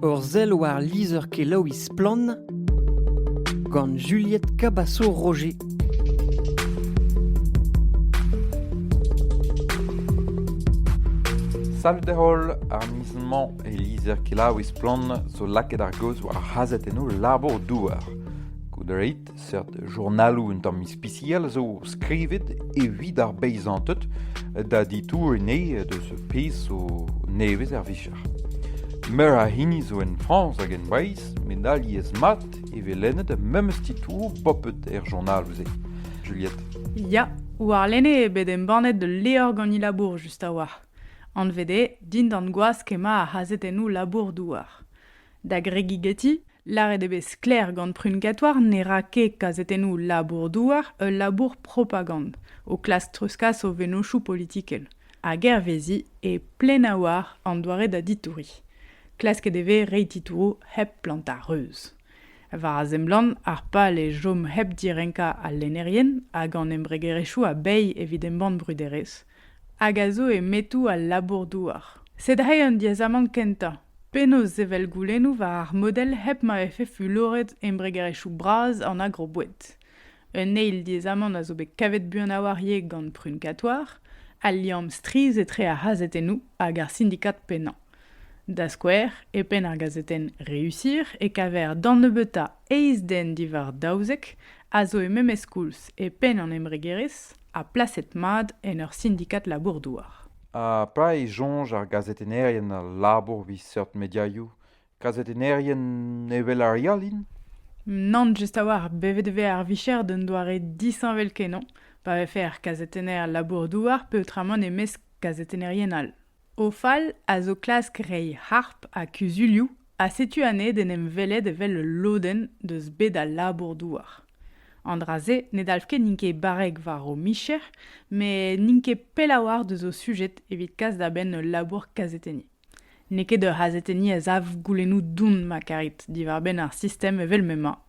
Ur sell war lizher-kelaouiñ Splann! gant Juliette Cabasso-Roger. Salut holl, ar miz-mañ e lizher-kelaouiñ Splann! zo lakaet ar gaoz war ar c'hazhetennoù labour-douar. Goude reit Seurt journaloù un tamm ispisial zo skrivet evit ar beizanted da ditouriñ deus ar pezh zo nevez er vicher. Meur a hini zo en Frañs hag en Breizh met alies-mat e vez lennet memes titouroù popet er journaloù-se. Juliette. Ya, warlene eo bet embannet ul levr gant he labour just a-walc'h. Anvet eo Dindan gwask emañ ar c'hazetennoù labour-douar. Da gregigeti, lâret eo bet sklaer gant Prunkatour ne ra ket kazetennoù labour-douar ul labour propagand, o klask treuzkas o vennozhioù politikel, hag hervezi e Plenawar an doare da ditouriñ. Klasket e vez reiñ titouroù hep plantañ reuz. War a seblant, ar pal eo chom hep direnkañ al lennerien hag an embregerezhioù a-bezh evit embann bruderezh, hag a zo e metoù al labour-douar. C'est dre an diaezamant kentañ, penaos sevel goulennoù war ar model hep ma vefe fuloret embregerezhioù bras an agroboued. Un eil diaezamant a zo bet kavet buan a-walc'h ivez gant Prunkatoir, al liamm strizh etre ar c'hazetennoù hag ar sindikad pennañ. Da skouer, e penn ar gazetenn Réussir e kaver d'an nebeutañ eizh den diwar daouzek a zo e memes koulz e penn an embregerezh ha plaset-mat en ur sindikad labour-douar. Ha petra e soñj ar gazetennerien a labour evit seurt mediaioù Gazetennerien evel ar re all int Nann, just a-walc'h. Bet e vez ar vicher d'un doare disheñvel-kenañ pa vefe ar gazetenner labour-douar peotramant e-mesk gazetennerien all. O fal a zo klask reiñ harp ha kuzulioù ha setu anezhe d'en em welet evel ul lodenn deus bed al labour-douar. An dra-se ne dalv ket n'int ket barrek war o micher, met n'int ket pell a-walc'h deus o sujet evit kas da benn ul labour kazetenniñ. N'eo ket ur c'hazetenniñ a sav goulennoù don ma karit diwar-benn ar sistem evel m'emañ.